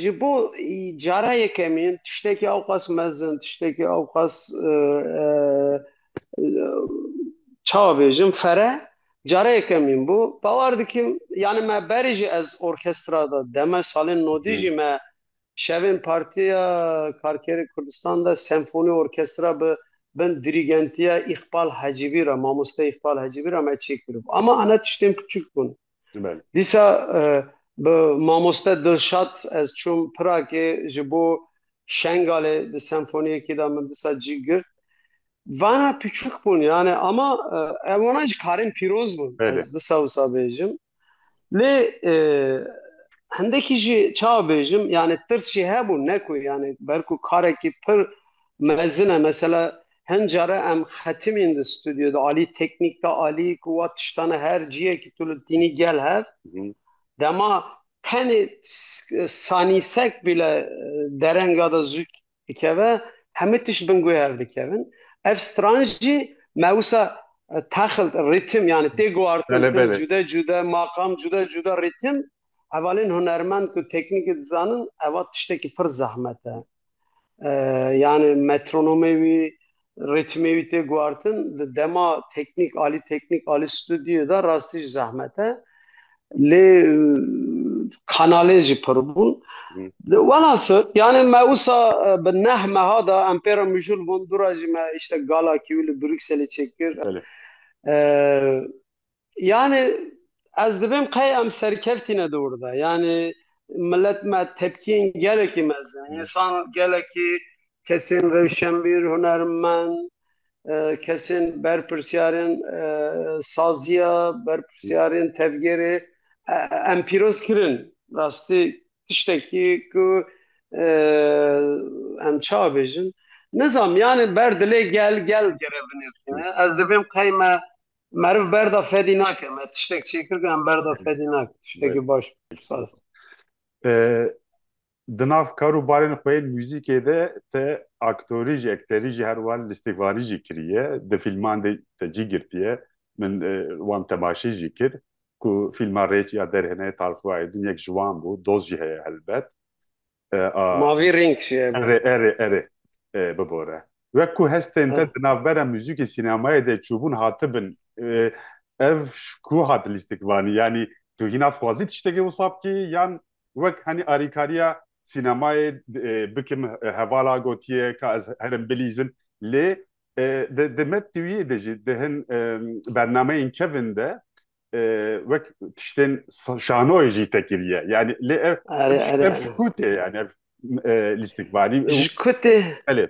Ji bo cara yekemî tiştekî ewqas mezin, tiştekî ewqas çawa bêjim fere cara yekemîn bû. Bawer dikim yanî me berî jî ez orkestra de deme salên nodî jî me şevên Partiya Karkerên Kurdistan de senfonî orkestra bi bin dirîgentiya Îqbal Hecîbî re, mamoste Îqbal Hecîbî re me çêkiribû. Ama ene tiştên piçûk bûn. Dîsa bi mamoste Dilşat ez çûm Piragê ji bo Şengalê di senfoniyekê de min disa cî girt. Vana piçûk bûn yanê ama ev wana jî karên pîroz bûn ez disa wisa bêjim. Lê hindekî jî çawa bêjim yanê tirs jî hebû ne ku yanê ber ku karekî pir Mezin e mesela hin care em xetimîn di stûdyo de alî teknîk de alî ku wa tiştane her ciyekî tu li tînî gel hev dema tenê sanîsek bîle derenga de zû dikeve hemû tişt bin guhê hev dikevin ev stranj jî me wisa taxilt rîtim yani tê guartin cude cude maqam cude cude rîtim hevalên hunermend ku teknîkê dizanin eva tiştekî pir zehmet e. Yanî metronomê wî, rîtmê wî tê guhartin di dema teknîk alî teknîk alî studyoyê de rastî jî zehmet e. Lê kanalên jî pir bûn. Welhasil yanî me wisa bi neh meha de em pê re mijûl bûn. Dûra jî me îştek gala kîwî li Brukselê çêkir. Yanî ez dibêm qey em serkevtîne dor de. Yanî milet me tepkiyên gelekî mezin. Însan gelekî kesên rewşenbîr, hunermend, kesên berpirsyarên saziya, berpirsyarên tevgerê em pîroz kirin. Rastî tiştekî ku em çawa bêjin nizanim. Yanî ber dilê gel, gel gere binirxîne. Ez dibêm qey me Meriv berda fedî nake me tiştek çêkir ke em berda fedî nake tiştekî baş spas. Di nav kar û barên xwe yên muzîkê de te aktorî jî ekterî jî her wan lîstikvanî jî kiriye di fîlman de te cî girtiye min wan temaşî jî kir ku fîlma Rêç ya derhênayê Tarxû Aydin yek ji wan bû doz jî heye helbet Mavî rêng şiye. Erê, erê, erê. Bibore. Wek ku hestên te di navbera muzîkê sînemayê de çûbûn hatibin, ev ku hat lîstikvanî? Yanî tu hîna dixwazî tiştekê wisa bikî yan wek henî arîkariya sînemayê bikim hevala gotiye ka ez herim bilîzin lê di metnîyê de jî di hin bernameyên kevin de wek tiştên şanoyê jî te kiriye yani lê ev ev ji ku tê yani ev lîstikvanî ji ku tê elê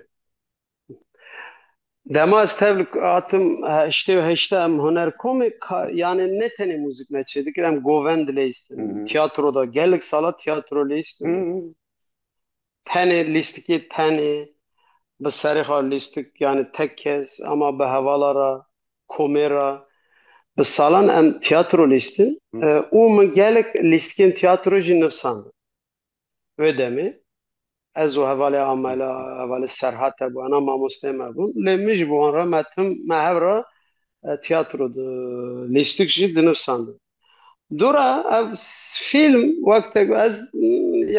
Dema ez tevl hatim heştê û heşta em huner komê yani ne tenê mûzik me çê dikir em govend lê istin tiyatro da gelek sala tiyatro lê istin Tenê lîstikê tenê bi serê xwe lîstik yanî tek kes ama bi hevala re komê re bi salan em tîyatro lîstin û min gelek lîstikên tîyatro jî nivsandin. Wê demê ez û hevalê Amela, hevalê Serhat hebû ena mamosteyên me bûn lê min ji bo wan re me tim me hev re tîyatro lîstik jî dinivsandin. Dora ev film wek tek ez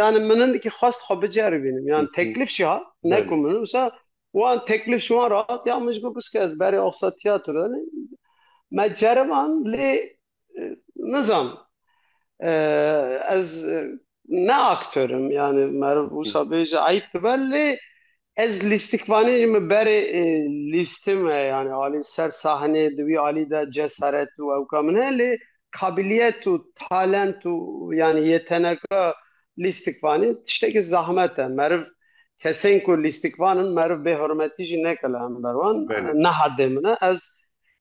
yani minin ki xwest xwe bicer bînim yani teklif jî hat ne ku min wisa wan teklif ji wan re hat ya min ji got biske ez berê oxa tiyatro yani me ceriban lê nizam ez Ne aktör im yani meriv wisa bêje eyb dibe lê ez lîstikvanê ji min berê lîstê me yani alî ser sahnê di wî alî de cesaret û ewka min heye lê kabiliyet û talent û yani yeteneka lîstikvanê tiştekî zahmet e meriv kesên ku lîstikvan in meriv bê hurmetî jî neke li hember wan neha dê min e ez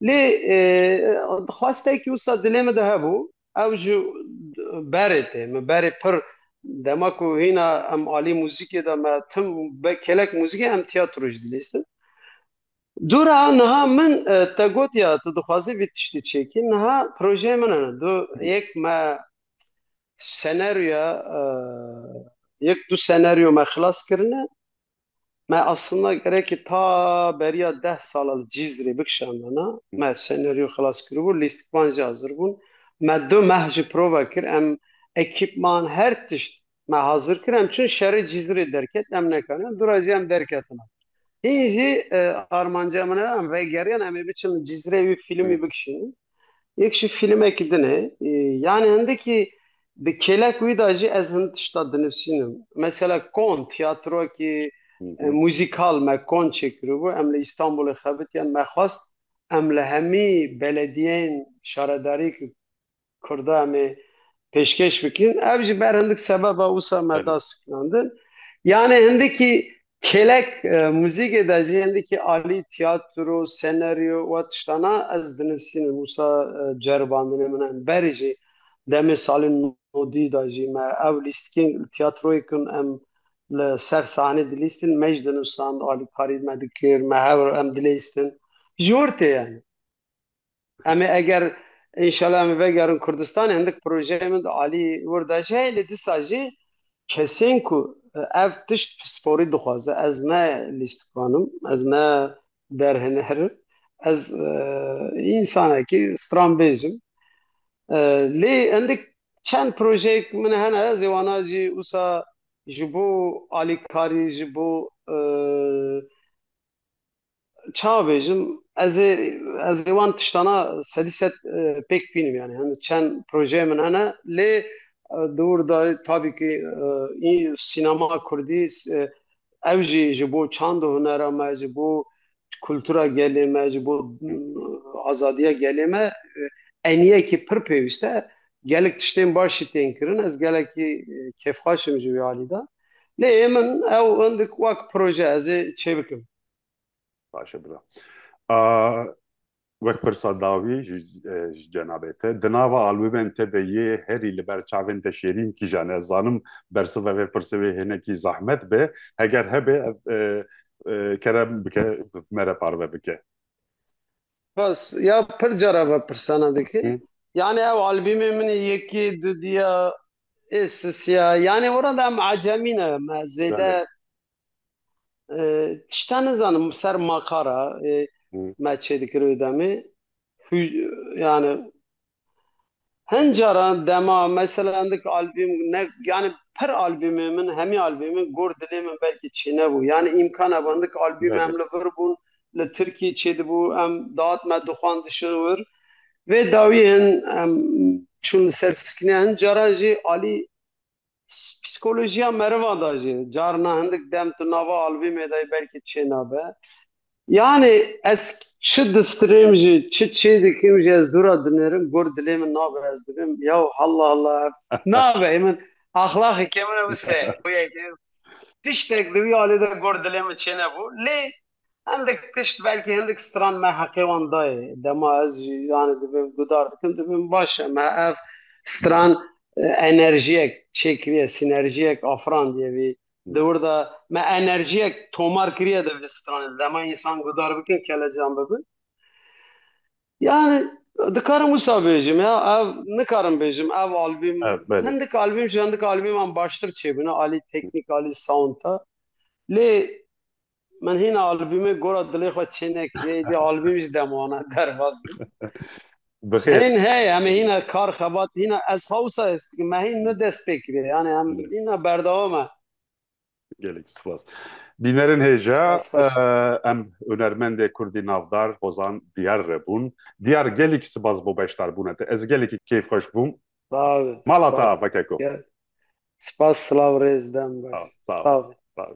lê dixwastekî wisa dilê min de hebû Ew ji berê tê. Min berê pir dema ku hîna em alî muzîkê de me tim kelek muzîkê em tiyatro jî dilîstin. Dûra niha min te gotiya tu dixwazî vî tiştî çêkî niha projeyê min hene. Du yek me senaryoya yek du senaryo me xilas kirine. Me aslında gerekî ta beriya deh sala li Cîzrê bikişandana. Me senaryo xilas kiribû, lîstikvan jî hazir bûn. Me du meh jî prova kir. Em ekîpman her tişt me hazir kir. Em çûn şerê Cîzrê derket em nekaniyan. Dûra jî em derketina. Hîn jî armanca min e em vegeriyan em ê biçin li Cîzrê wî fîlmî bikişînin. Yek jî fîlmekî din e. Yanî hindikî bi kêlek wî de jî ez hin tişta dinivîsînim. Mesela Kon tîyatrokî muzîkal me Kon çêkiribû em li Îstanbulê xebitiyan me xwest em li hemî belediyeyên şaredariyê ku Kurda em ê pêşkêş bikin. Ev ji ber hindik sebeba wisa me da sikinandin. Yanê hindikî kêlek muzîkê de jî hindikî alî tiyatro, senaryo û tiştana ez dinivîsînim wisa ceribandinê min in. Berî jî demê salên nodî de jî me ev lîstikên tiyatroyê kin em li ser sahnê dilîstin me jî dinivisand alîkarî me dikir me hewl em dilîstin ji wir tê yanî. Em ê eger înşela em vegerin Kurdistanê hindik projeyê min di alî wir de jî heye lê disa jî kesên ku ev tişt pisporî dixwaze ez ne lîstikanim ez ne derhinerim ez însanekî stranbêj im lê hindik çend projeyek min hene ez ê wana jî wisa ji bo alîkarî ji bo Çawa bêjim ez ê ez ê wan tiştana sedî sed pêk bînim yani hende çend projeyê min hene lê di wir de tabî kî sînema kurdî ew jî ji bo çand û hunera me ji bo kultura gelê me ji bo azadiya gelê me eniyekî pir pêwîst e gelek tiştên baş jî tên kirin ez gelekî kêfxweş im ji wî alî de lê hê min ew hindik wek proje ez ê çêbikim. Baş e bira. Wek pirsa dawî ji cenabê te, di nava albûmên te de yê herî li ber çavên te şêrîn kîjan e? Ez zanim bersiva vê pirsê wê hinekî zehmet be, heger hebe ev kerem bike me re parve bike. Bas, ya pir car ev pirsana dikim. Yanî ew albîmê min e yekê, dudîya, êsisiya. Yanî orada em ecemî ne me zêde Tişta nizanim ser makara me çêdikirê demê yani hin caran dema mesela endik albîm ne yani pir albîmê min hemî albîmê min gor dilê min belkî çênebû yani îmkan hebû endik albîmê em li vir bûn li Tirkî çêdibû em dat me dixwand dişin wir vê dawî hin em çûn li ser sîkne hin caran jî alî psikolojiya meriva da jî carna hindik dem tu nava albîmê de yî belkî çê nabe. Yanê ez çi distrêm jî çi çê dikim jî ez dûra dinêrim gor dilê min nabe ez dibim yew halla halla ev nabe hê min axlaxekê min e wisa ye xwiyekê tiştek di wî alî de gor dilê min çê nebû lê Hindik tişt belkî hindik stran me heqê wan dayê. Dema ez jî yanê dibim gudar dikim dibim baş e. Me ev stran enerjiyek çêkiriye, sînerjiyek afirandiye vî. Di wir de me enerjiyek tomar kiriye di vî stranê de. Dema însan gudar bikin kelecan bibin. Yanî dikarim wisa bêjim ya, ev nikarim bêjim ev albîm hindik albîm ji hindik albîman baştir çêbûne alî teknîk alî sound de. Lê Min hîna albîmê Gora Dilê Xwe çê nekiriye, êdî albîm jî dem wana derbas bû. Bixêr. Hîn heye, em ê hîna kar xebat, hîna ez ha wisa his dikim, me hîn nu dest pê kiriye, yanî em hîna berdewam e. Gelek spas. Bînerên hêja, Spas, spas. eh, em hunermendê kurdî navdar Hozan Diyar re bûn. Diyar gelekî spas bo beşdarbûna te. Ez gelekî keyf xweş bûm. Sağ ol. Mala te spas. ava keko. Gel. Spas, silav, rêz, dem Sağ ol, baş. sağ ol. Sağ ol. Sağ ol.